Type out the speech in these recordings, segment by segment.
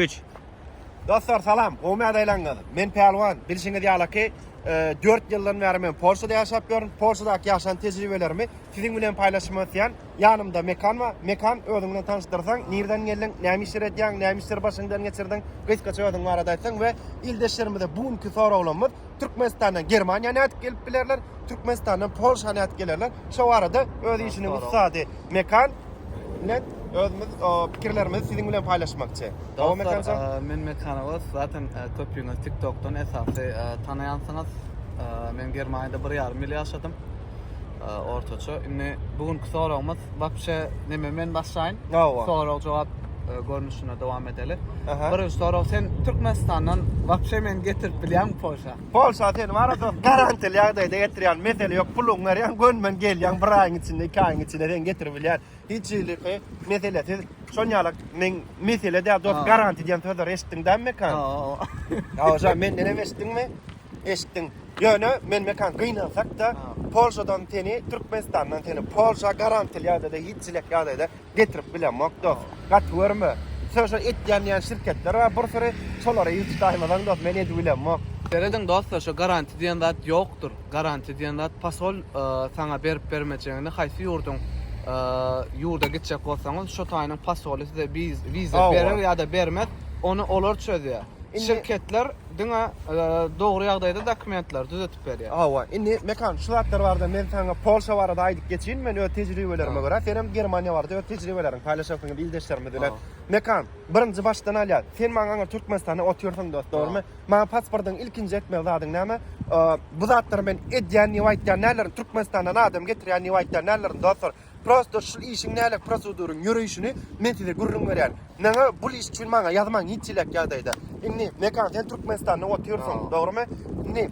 Üç. Dostlar salam, gowymy ýagdaýlaryňyz? Men Pälwan, bilşiňiz ýalyky, dört ýyldan bäri men Polşada ýaşap ýörün. Polşadaky ýaşan tejribelerimi siziň bilen paýlaşmak isleýän. Ýanymda Mekan bar. Mekan, özüňi bilen tanyşdyrsaň, nirden geldiň, näme işler edýäň, näme işleri başyňdan geçirdiň, gysgaça özüň barada aýtsaň we ildeşlerimize bu günki soraglarymyz Türkmenistandan Germaniýa nädip gelip bilerler, Türkmenistandan Polşa nädip gelerler? Şo barada öz işiniň ussady Mekan. bilen özümiz pikirlerimizi siziň bilen paýlaşmakçy. Dowam etmekçi. Men Mekanowa zaten köpüňiz TikTokdan esasy tanaýansyňyz. Men Germaniýada 1,5 ýyl ýaşadym. Ortaça. Indi bu günki soragymyz wapşe neme men başlaýyn. Sorag jogap görnüşinde dowam edeli. Birinji sorag sen Türkmenistandan wapşe meni getirip bilýäňmi Polşa? Polşa seni wara dost garantili ýagdaýda getirýän mesele ýok puluň berýän gönmen gelýän bir aýyň içinde iki aýyň içinde seni getirip bilýän hiç hiliki mesele siz şon ýalak men mesele däl dost garanti diýen sözleri eşitdiň däm mekan hawa şa menden hem eşitdiňmi eşitdiň ýöne men mekan gynansak da polşadan seni türkmenistandan seni polşa garantili ýagdaýda hiç hilek ýagdaýda getirip bilemok dos gaty görme şo şo etýän diýen şirketler bar bir süri şolara ýüz tutaýmasaň dos men edip bilemok. Serediň dostlar şo garanti diýen zat ýokdur garanti diýen zat pasol saňa berip bermejegini haýsy ýurduň ýurda gitjek bolsaňyz şo taýynyň pasoly size wiza berer ýada bermez ony olar çözýär şirketler diňe dogry ýagdaýda dokumentleri düzetip aýdyp berýär. Hawa, indi Mekan şu zatlar barada men saňa Polşa barada aýdyp geçeýin, men öz tejribelerime görä, sen hem Germaniýa barada öz tejribeleriňi paýlaşarsyň indi ildeşlerimiz bilen. Mekan, birinji başdan alýas, sen maňa aňyr Türkmenistanda otyrsyň dost, dogrumy? Maňa pasportyň ilkinji etmeli zadyň näme? Bu zatlary men edýän diýip aýtýan däldirin, Türkmenistandan adam getirýän diýip aýtýan däldirin dostlar. Prosto şul işiň nälik proseduryň ýöreýşini men size gürrüň berýän. Maňa bul iş üçin maňa ýazmaň hiç çilek ýagdaýda. Indi Mekan sen Türkmenistanda otyrsyň, dogrymy? Indi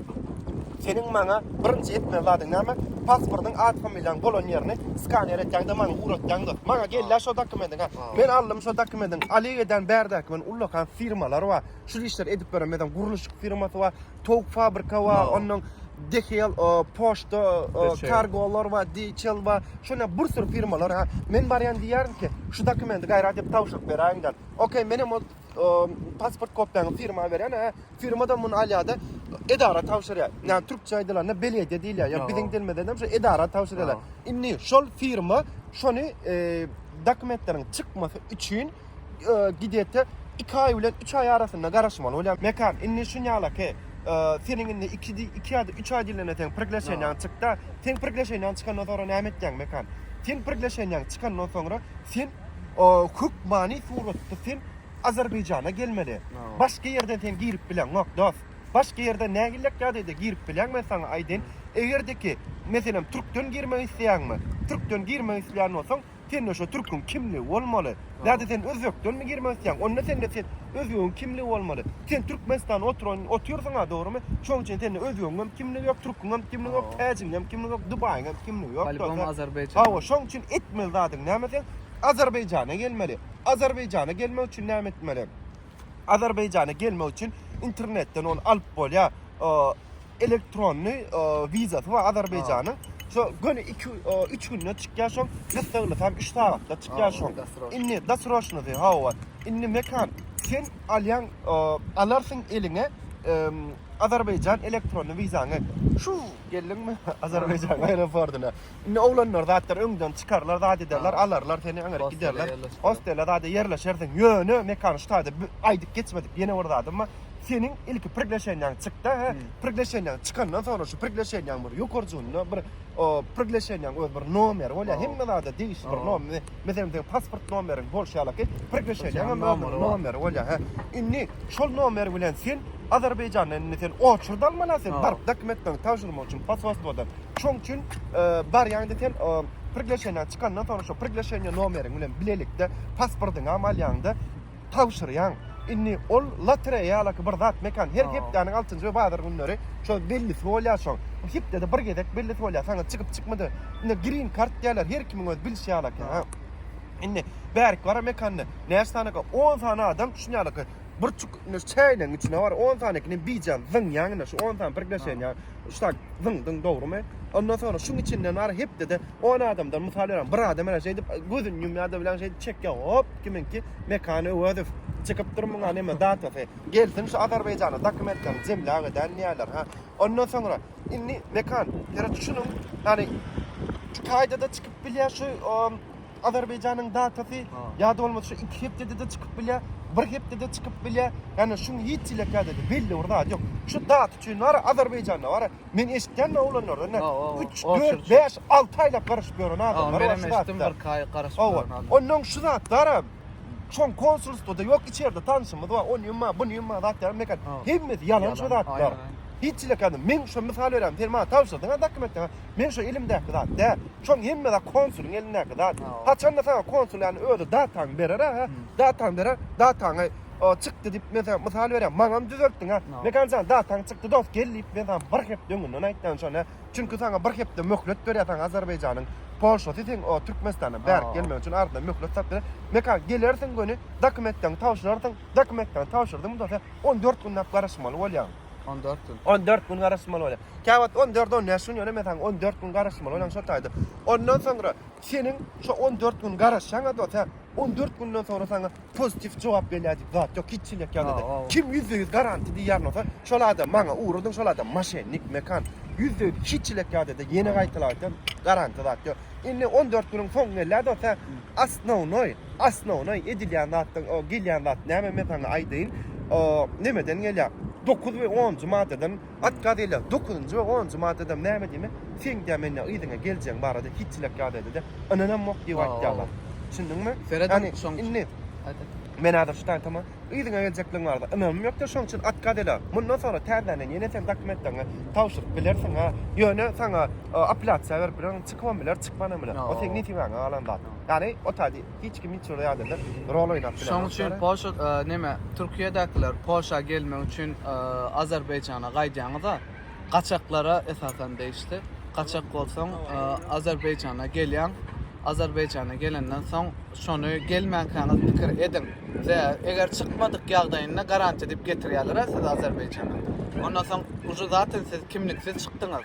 seniň maňa birinji etmeli zadyň näme? Pasportyň at familiýaň bolan ýerini skaner etýäňde maňa ugratýaňda. Maňa gelýä şo dokumentiň ha. Men aldym şo dokumentiň Oleg eden bärdäki men ullakan firmalar bar. Şul işleri edip beren meden gurluşyk firmasy bar. towuk fabrika bar, Aa. ondan DHL, e, poçta, e, DHL. kargolar bar, DHL bar. Şuna bir sürü firmalar. ha. Men barýan diýýärin ki, şu dokumenti gaýrat edip tabşyryp beräýiň-de. Okey, men hem o e, pasport kopiýany firma berýän, hä. Firma-da muny alýar-da, edara tabşyrýar. Ýa türkçe aýdylanda belyediýe diýilýär. Ýa Aa. biziň dilimizde hem şu edara tabşyrýarlar. Aa. Indi şol firma şony e, dokumentleriň çykmasy üçin Gidete iki aý bilen üç aý arasynda garaşmaly bolýar. Mekan, indi şunýala ki, seniň indi iki ýa-da üç aý dilinde seň prigleşeniýaň çykda. Seň prigleşeniýaň çykandan soňra näme etýäň, Mekan? Seň prigleşeniýaň çykandan soňra sen hökmany suratda sen Azerbaýjana gelmeli. Başga ýerden sen girip bileňok, dost. Başga ýerden nähillek ýagdaýda girip bileň men saňa aýdaýyn. Eger-de ki, meselem, türkden girmek isleýäňmi? Türkden girmek isleýän bolsaň, Sende şo türküň kimligi bolmaly. Ýa-da sen özbekdenmi girmek isleýäň? Onda sende sen özbegiň kimligi bolmaly. Sen Türkmenistanda oturan otyrsyň-a, dogrymy? Şoň üçin sende özbegiňem kimligi ýok, türküňem kimligi ýok, täjigiňem kimligi ýok, dubaýyňam kimligi ýok. Polibom Azerbaýjan. Hawa, şoň üçin etmeli zadyň näme sen? Azerbaýjana gelmeli. Azerbaýjana gelmek üçin näme etmeli? Azerbaýjana gelmek üçin internetden ony alyp bolýar. Elektronny wizasy bar Azerbaýjanyň. Şo göni 2-3 günde çykýar şoň. Gyssaglasam 3 sagatda çykýar şoň. Indi dasroşnysy hawa. Indi Mekan, sen alýaň, alarsyň eliňe Azerbaýjan elektronny wizaňy. Şu geldiňmi Azerbaýjan aeroportyna. Indi oglanlar zatlar öňden çykarlar, zat ederler, alarlar seni, öňe giderler. Hostele zada ýerleşersiň. Ýöne Mekan şu taýda aýdyp geçmedik. Ýene bir zadym bar. Seniň ilki prigleşeniýaň çykda, hä? Prigleşeniýaň çykandan soňra şu prigleşeniýaň bir ýokarjygynda bir prigleşeniýaň öz bir nomeri bolýar. Hemme zada degişli bir nomer. Meselem, seniň pasport nomeriň bolşy ýaly ki, prigleşeniýaň hem öz nomeri bolýar, hä? Indi şol nomer bilen sen Azerbaýjanda indi sen oçurdy almaly, sen baryp dokumentleriňi tabşyrmak üçin posolstwodan. Şoň üçin barýaňda sen priglaşeniýaňy çykandan soň şo priglaşeniýa nomeriň bilen bilelikde pasportyňam alýaňda tabşyrýaň. Indi ol lotereýa ýalaky bir zat mekan her hepdäniň altynjy we bazar günleri şo bellisi bolýar şoň. Hepdede bir gezek bellisi bolýar saňa çykyp çykmady. Indi grin kart diýýärler her kimiň öz bilişi ýalaky. Indi bärki bara mekanda näçe sany ka on sany adam düşün ýalaky bir çuk çäýleň içine bar on sanykini bijan zyňýaň indi şu on sany priglaşeniýa. Şular zyň zyň dogrymy? Ondan sonra şuň içinden ara hepdede 10 adamdan mysal berem. Bir adam ana şeýdip gözün ýumýar da bilen şeýdip çekýär. Hop, kiminki Mekan Öwezow çykyp dur muňa näme datasy. Gelsin şu Azerbaýjana dokumentlerini jemläp edän diýýärler. Ha. Ondan sonra indi Mekan, ýeri düşüniň. Ýani iki aýda-da çykyp bilýär şu Azerbaýjanyň datasy ýa-da bolmasa şu iki hepdede-de çykyp bilýär, bir hepdede çykyp bilýär. Ýagny şuň hiç hili kädede belli bir zady ýok. Şu data üçin bara Azerbaýjanda bara men eşitýän oglanlardan da üç, dört, bäş, alty aýlap garaşyp ýören adamlar bar. Menem eşitdim birki aý garaşyp ýören adamlar. Onnoň şu zat baram. Şoň konsulstwada ýok içerde tanşymyz bar. Onyň bar, bunyň bar zat ýaram mekan. Hemmesi ýalan şu zatlar. Hiç hili kädede. Men şu mysal berýän sen maňa tabşyrdyň-a dokumentde. Men şu elimdäki zat däl. Şoň hemme zat konsulyň elindäki zat. Haçanda saňa konsul ýany özi datany berer-ä, hä? Datany berer, dataňy çykdy diýip, men saňa mysal berýän, maňam düzeltdiň, hä? Mekan jan, dataň çykdy dost, gel diýip, men saňa bir hepde öňünden aýtýan şony, hä? Çünki saňa bir hepde möhlet berýär saňa Azerbaýjanyň polşasy, seň o Türkmenistana bärik gelmegiň üçin arzyna möhlet salyp berýär. Mekan, gelersiň göni, dokumentleňi tabşyrarsyň, dokumentleňi tabşyrdyň dost, hä? On dört günläp garaşmaly bolýaň. On dört gün. On dört gün garaşmaly bolýaň. Käwagt on dört, on bäş gün, ýöne men saňa on dört gün garaşmaly bolan şo taýda. Ondan soňra seniň şo on dört gün garaşýaňa dost, hä? On dört günden soňra saňa pozitiw jogap gelýär diýip zat ýok, hiç çilek ýagdaýda. Kim ýüzde ýüz garanti diýýär bolsa, şol adam maňa ugradyň, şol adam moşennik, mekan. Ýüzde ýüz, hiç çilek ýagdaýda, ýene gaýtalap aýtýan, garanti zat ýok. Indi on dört günüň soňy gelýär dost, hä? Osnownoý, osnownoý edilýän zatdan, o gelýän zat näme, men saňa aýdaýyn, o, nemeden gelýär, dokuz we onunjy maddadan, At gazeler dokuzynjy we onunjy maddada näme diýmek? Seň dä men dä yzyňa geljegiň barada hiç çilek gazedede ynanamok diýip aýtýarlar. Düşündiňmi? Ýani indi men häzir şu taýdan aýtama, yzyňa geljekligiň barada ynamym ýokdur, şonuň üçin at gazeler. Mundan soňra täzeden ýene sen dokumentleriňi tabşyryp bilersiň-ä. Ýöne saňa apelýasiýa berip bilerin, çykybam biler, çykmanam biler. O seniň nesibiňe galan zat. Ýani o taýda. Hiç kim hiç bir adada rol oynap bilemez. Şoň üçin Polşa näme Türkiýedäkiler Polşa gelmek üçin Azerbaýjana gaýdýaňyza gaçaklara esasan degişli. Gaçak bolsaň Azerbaýjana gelýäň. Azerbaýjana gelenden soň şony gelmänkäňiz pikir ediň. Eger çykmadyk ýagdaýynda garantiýa diýip getirýärler-ä sizi Azerbaýjana. Ondan soň uje zatyn siz kimliksiz çykdyňyz.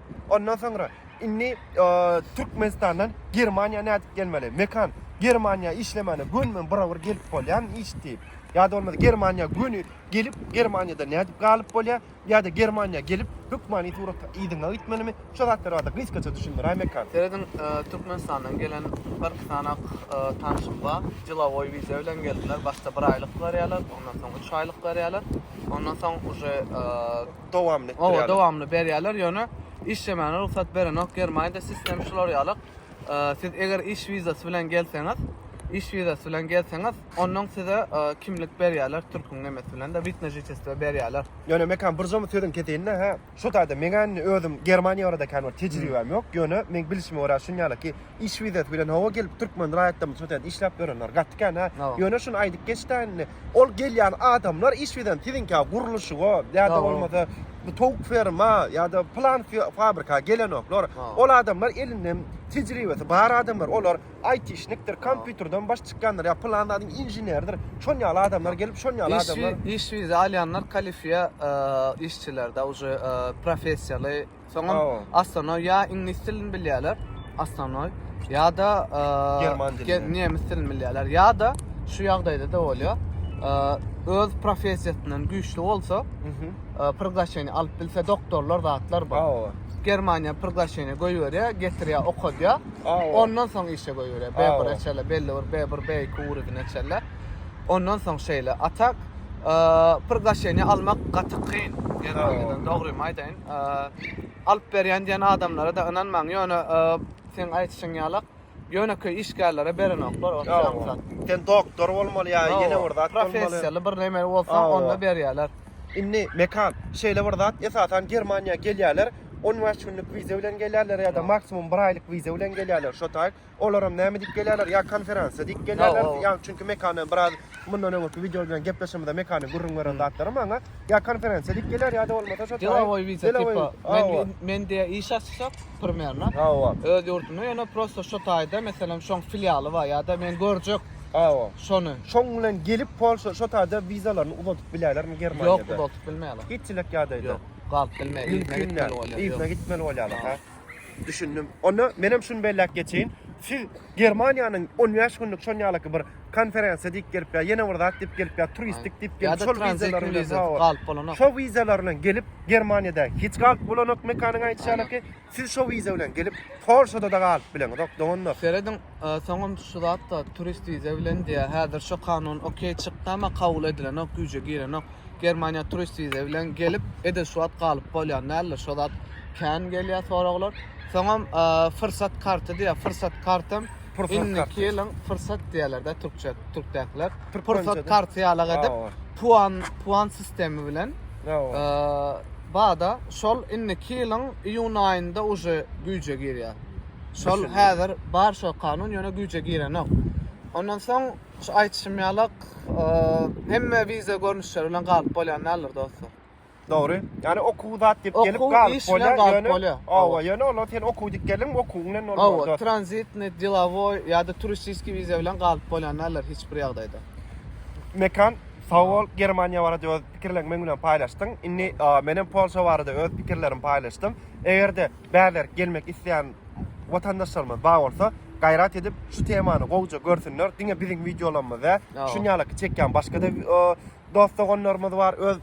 Ondan soňra indi Türkmenistandan Germaniýa nädip gelmeli? Mekan, Germaniýa işlemäne göni men bir-bir gelip bolýarmy iş diýip? Ýa-da bolmasa Germaniýa göni gelip, Germaniýada nädip galyp bolýar? Ýa-da Germaniýa gelip, hökmany suratda yzyňa gitmelimi? Şu zatlar barada gysgaça düşündiräý Mekan. Serediň, Türkmenistandan gelen birki sanak tanşym bar. Delowoý wiza bilen geldiler. Başda bir aýlyk berýärler, ondan soň üç aýlyk berýärler. Ondan soň uje dowamly etdirýärler. Owa dowamly berýärler ýöne işlemäne rugsat berenok germaniýada sistem şular ýalyk siz eger iş wizasy bilen gelseňiz iş wizasy bilen gelseňiz ondan size kimlik berýärler türküň nemesi bilen de witne žitestvo berýärler. Ýöne Mekan birjamy sözüňi keseýinda hä şu taýda meňä indi özüm germaniýa barada kän bir tejribäm ýok ýöne meň bilişime görä şuny ýaly ki iş wizasy bilen hawa gelip türkmen raýatlarymyz şu ýerde işläp ýörenler gaty kän hä. Ýöne şuny aýdyp geçdä indi. Ol gelýän adamlar iş wizasy siziňkä gurluşyga ýa-da bolmasa bu towuk ferma ýa-da plan fabrika gelenoklar. Ol adamlar elinde tejribesi bar adamlar. Olar aýtişnikdir, kompýuterden baş çykýandyr ýa plan zadyň inženeridir. Şon ýaly adamlar gelip şon ýaly adamlar. Iş wiza alýanlar kalifiýa işçilerde uje professiýaly. Soňam Astanoý ýa iňlis dilini bilýärler, Astanoý ýa-da german dilini, nemes dilini bilýärler. Ýa-da şu ýagdaýda-da bolýar. Öz professiýasyndan güýçli bolsa, priglaşeniýe alyp bilse doktorlar zatlar bar. Germaniýa priglaşeniýe goýberýär, getirýär, okadýar. Ondan soň işe goýberýär. B1 eçerler, belli bir B1, B2 urudyny eçerler. Ondan soň şeýle. Atak priglaşeniýe almak gaty kyn Germaniýadan, dogrymy aýdaýyn. alyp berýän diýen adamlara-da ynanmaň, ýöne seň aýdyşyň ýalak, ýönekeý işgärlere berenoklar, ot ýaly zat. Sen doktor bolmaly ýa ýene bir zat bolmaly. Professiýaly bir näme bolsaň, onda berýärler. Indi Mekan, şeýle bir zat, esasan Germaniýa gelýärler, on bäş günlük wiza bilen gelýärler ýa-da maksimum bir aýlyk wiza bilen gelýärler, şo taýy. Olaram näme diýip gelýärler? Ýa konferansiýa diýip gelýärler. Ýa çünki mekany biraz mundan öňki wideo bilen gepleşimizde mekany gürrüň beren zatlary maňa ýa konferensiýa diýip gelýär ýa-da bolmasa şo delowoý wiza tipa. Men men diýä iş açsak primerno. Hawa. Öz ýurdumda ýöne prosta şo taýda meselem şoň filialy bar ýa-da men görjek. Hawa. Şony. Şoň bilen gelip Polşa şo taýda wizalaryny uzadyp bilerlermi Germaniýada? Ýok, uzadyp bilmeýärler. Hiç çilek ýagdaýda. Ýok. Galyp bilmeýär. Ýüzüne gitmeli bolýar. Ýüzüne gitmeli bolýarlar. Düşündim. Onda menem şuny belläp geçeýin. Siz Germaniýanyň 15 günlük şon ýalaky bir konferensiýa diýip gelip ýa ýene bir zat diýip gelip ýa turistik diýip gelip şol wizalary bilen galyp bolanok. Şo wizalary bilen gelip Germaniýada hiç galyp bolanok mekanyň aýdyşy ýalyky. Siz şo wiza bilen gelip Polşada da galyp bileňizok doganlar. Serediň soňam şu zatda turist wiza bilen diýýär. Häzir şo kanun okey çykdy ama kabul edilenok güýje girenok. Germaniýa turist wiza bilen gelip, ede şu wagt galyp bolýan däldir. Şo zat kän gelýär soraglar. Soňam e, fursat karty diýýär. Fursat kartam Pursat indiki karty. ýylyň fursat diýerler-de türkçe türkdäkiler. Türkmençe-de. Pursat karty ýaly edip Awa. puan puan sistemi bilen Awa. e, bada şol indiki ýylyň iýun aýynda uje güýje girýär. Şol Düşündim. häzir bar şol kanun ýöne güýje girenok. Ondan soň Şu aýtşym ýalak, hemme wiza görnüşleri bilen galyp bolýan däldir dostlar. Dogry. Ýani okuw zat diýip gelip Okuw, galyp iş bilen bolýar. galyp Ýöne, bolýar. owa, ýöne olar sen okuw diýip geldiň, okuwyň bilen bolmaz. Owa, dostlar. tranzitny, delowoý ýa-da turistiskiý wiza bilen galyp bolýan däldir hiç bir ýagdaýda. Mekan, sag bol, Germaniýa barada öz pikirleriňi meň bilen paýlaşdyň. Indi, a, men hem Polşa barada öz pikirlerimi paýlaşdym. Eger-de Bäberk gelmek isleýän watandaşlarymyz bar bolsa gaýrat edip şu temany gowja görsünler diňe biziň wideolarymyz dä şun ýalaky çekýän başga da dost doganlarymyz bar öz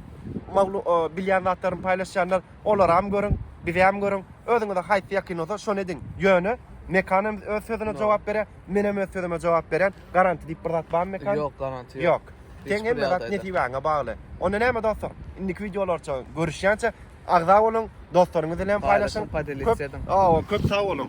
bilýän zatlaryny paýlaşýanlar olaram görüň bizem görüň özüňize haýsy ýakyn bolsa şony ediň ýöne Mekan hem öz sözüne jogap berýär menem öz sözüme jogap berýän garanti diýip bir zat barmy Mekan ýok garanti ýok teň hemme zat nesibaňa bagly onda näme dostlar indiki wideolarça görüşýänçä Agza boluň, dostlaryňyz bilen paýlaşyň. Köp sag boluň.